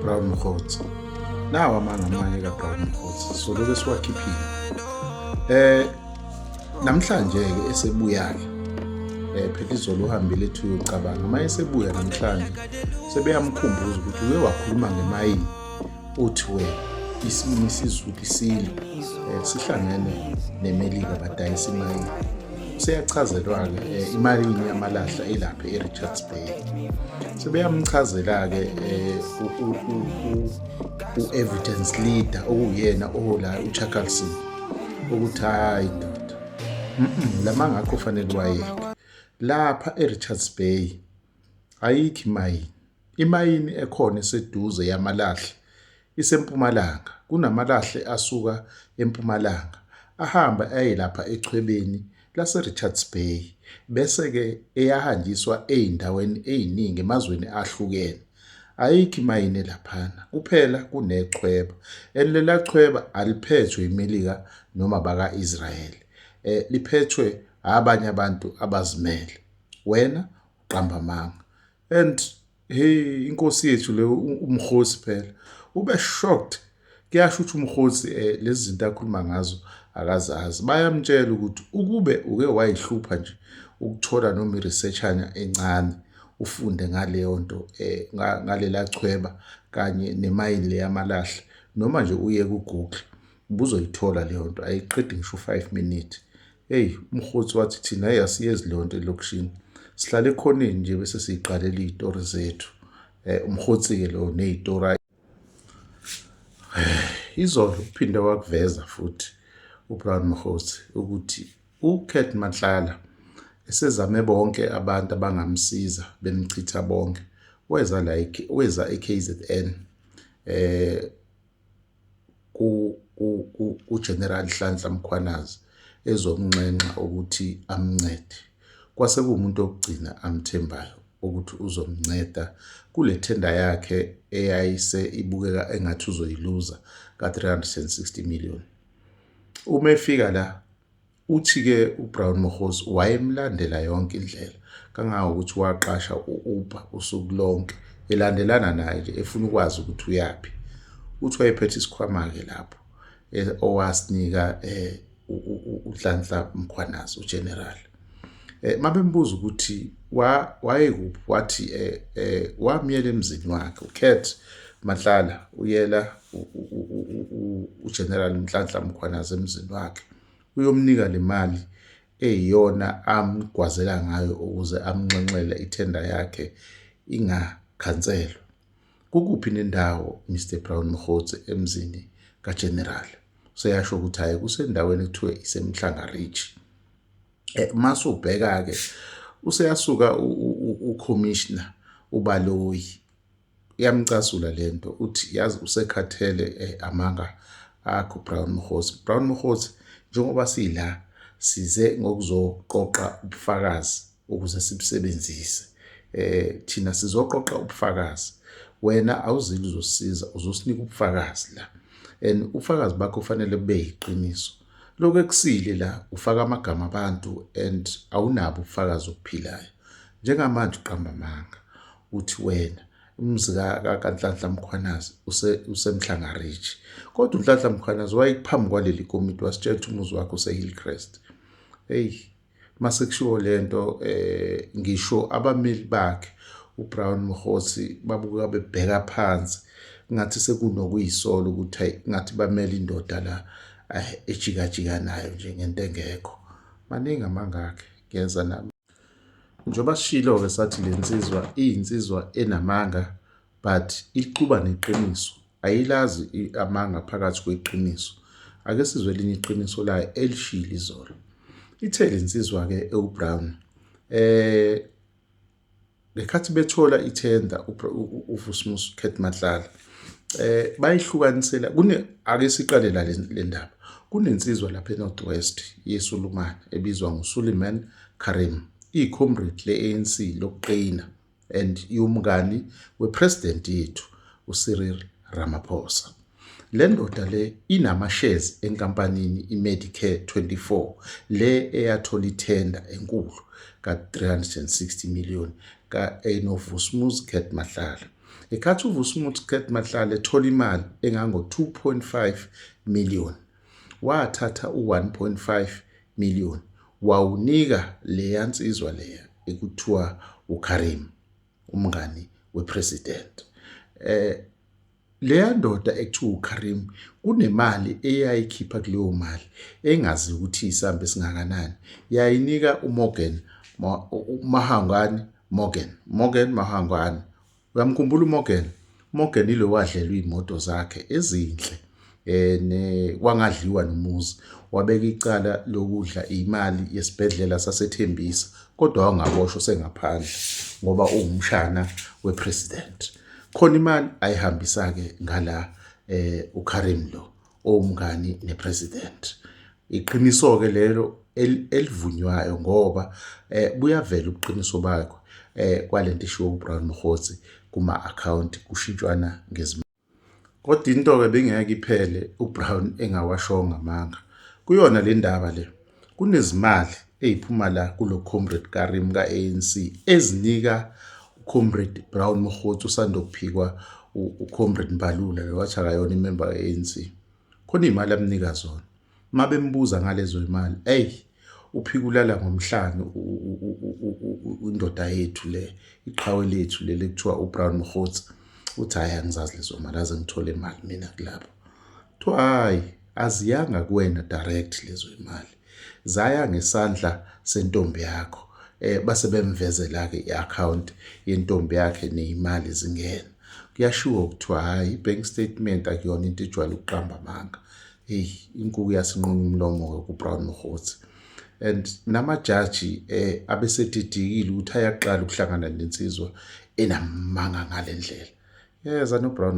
Brown Mkhotsi nawa amanga amanye ka Brown Mkhotsi soloke siwakhiphile eh namhlanje ke esebuya ke eh phela izolo uhambile ethi uyocabanga uma esebuya namhlanje sebeyamkhumbuza ukuthi uye wakhuluma ngemayini uthi wena isimi sizulu isilo eh, sihlangene nemelika badayisa imali seyachazelwa-ke eh, imalini yamalahla elapha e-richards bay sebeyamchazela-ke eh, u-evidence leader okuyena ohola ucharlson ukuthi hhayi ndoda la mangakho fanele wayeke lapha e-richards bay ayikho imayini Imayini ekhona eseduze yamalahle isempumalanga. Kunamalahle asuka empumalanga ahamba aye lapha echwebeni laseRichards Bay bese-ke eyahanjiswa ey'ndaweni ey'ningi emazweni ahlukene. Ayikho imayini elaphana, kuphela kunechweba and lela chweba aliphethwe iMelika noma baka-Israyeli, eh, liphethwe abanye abantu abazimele. Wena uqamba amanga. and hey inkosi yethu le umkhosi phela ube shocked kuyasho ukuthi umkhosi eh, lezi zinto akhuluma ngazo akazazi bayamtshela ukuthi ukube uke wayihlupha nje ukuthola noma iresearchanya encane ufunde ngaleyo nto eh, ngalela chweba kanye nemayini leyamalahle noma nje uye ku-google ubuzoyithola leyo nto ayiqedi ngisho u-five minute Eyi umhotsi wathi thina eyi asiyezi leyo nto elokishini sihlala ekhoneni nje bese siyiqalela iy'tori zethu um umhotsi-ke lowo ney'tori ayi izolo uphinde wakuveza futhi ubrown mhotsi ukuthi ucat manhlala esezame bonke abantu abangamsiza bemchitha bonke weza la weza e-kzn um kuGeneral Nhlanhla Mkhwanazi ezomnxenxa ukuthi amncede. Kwase kuwumuntu wokugcina amthembayo ukuthi uzomnceda kule thenda yakhe eyayise ibukeka engathi uzoyiluza ka-360 million. Uma efika la Uthi-ke uBrown Mokgosi wayemlandela yonke indlela kangangokuthi waqasha u-Uber usuku lonke elandelana naye nje efuna ukwazi ukuthi uyaphi. Uthi wayephethe isikhwama-ke lapho e, owasinika um uNhlanhla Mkhwanazi uGeneral. Eh, uma bembuza ukuthi wayekuphi wathi eh, eh, wamyela emzini wakhe ucat mahlala uyela ugeneral mhlanhla mkhwanazi emzini wakhe uyomnika le mali eyiyona amgwazela ngayo ukuze amnxenxele ithenda yakhe ingakhanselwa. Kukuphi nendawo Mr Brown Mkhotsi emzini kaGeneral? Seyasho ukuthi hayi kusendaweni ekuthiwa iseMhlanga Ridge. Eh, Masu ubheka-ke useyasuka uCommissioner uBaloyi iyamcasula le nto uthi yazi usekhathele eh, amanga akho brown mhozi brown mhozi njengoba sila size ngokuzoqoqa ubufakazi ukuze sibusebenzise eh thina sizoqoqa ubufakazi wena awuzili uzosiza uzosinika ubufakazi la and ubufakazi bakho kufanele bube yiqiniso lokho ekusile la ufaka amagama abantu and awunabo ubufakazi obuphilayo njengamanje uqamba amanga uthi wena umzi kaNhlanhla Mkhwanazi usemhlangarich kodwa uNhlanhla Mkhwanazi wayekuphambi kwaleli komiti wasitshela ukuthi umuzi wakhe usehillcrest eyi masekushiwo le nto um eh, ngisho abameli bakhe ubrown mhosi babuka bebheka phansi ngathi sekunokuyisola ukuthi hayi ngathi bamele indoda la eh, ejikajika nayo nje ngento engekho maningi amangakhe ngiyeza nami Njengoba sishilo-ke sathi le nsizwa iyinsizwa enamanga but iquba neqiniso ayilazi amanga phakathi kweqiniso ake sizwe elinye iqiniso layo elishile izolo ithe le nsizwa-ke ewubrown um Ngekhathi bethola ithenda uVusmus Khet Matlala eh bayihlukanisela kune ake siqale la le ndaba kunensizwa lapha eNorth West yeSulumane ebizwa nguSuleiman Karim iyicomrade le-ANC lokuqina and iwumngani wepresident yethu uCyril Ramaphosa Le ndoda le inama-shares enkampanini iMedicare 24 le eyathola ithenda enkulu ka-360 million ka-enovusmusicat Matlala. Ngesikhathi uvusmusicat Matlala ethola imali engango-2.5 million wathatha u-1.5 million wawunika leya nsizwa leya ekuthiwa ukarim umngani wepresident. Eh, Leya ndoda ekuthiwa uKarim kunemali eyayikhipha kuleyo mali engazi ukuthi isamba esingakanani yayinika uMorgan Mahangwani Morgan Morgan Mahangwani uyamkhumbula uMorgan Morgan ilo wadlelwa iy'moto zakhe ezinhle eh ne kwangadliwa nomuzi wabeka icala lokudla imali yesibhedlela sasethembisa kodwa wangaboshwa sengaphandle ngoba ungumshana wepresident khona imali ayihambisa ke ngala eh uKarim lo owumngani nepresident iqiniso ke lelo elivunywayo ngoba eh buyavela ubuqiniso bakho eh kwalento ishiwo uBrown Mkhotsi kuma account kushintshwana ngezimali Kodwa into-ke bingeke iphele uBrown engawashongo amanga. Kuyona le ndaba le, kunezimali ey'phuma la kulo comrade Karim ka-ANC ezinika ucomrade Brown Mokgotsi usanda kuphikwa ucomrade Mbalula lo wathi akayona imemba ka-ANC. Khona iy'mali amnika zona. uma bembuza ngalezo imali eyi uphika ulala ngomhlane indoda yethu le iqhawe lethu leli kuthiwa ubrown mhotsi uthi hhayi angizazi lezo mali aze ngithole imali mina kulapho kuthiwa hhayi aziyanga kuwena direct lezo imali zaya ngesandla sentombi yakho eh base bemvezela ke iaccount yentombi yakhe nezimali zingena kuyashiwo kuthiwa hhayi i-bank statement akuyona into ejwayele ukuqamba amanga eyi inkuku yasinquma umlomo-ke kubrown mokgotsi and namajaji um eh, abesedidikile ukuthi ayaqala ukuhlangana nensizwa enamanga ngale ndlela yeza nobrown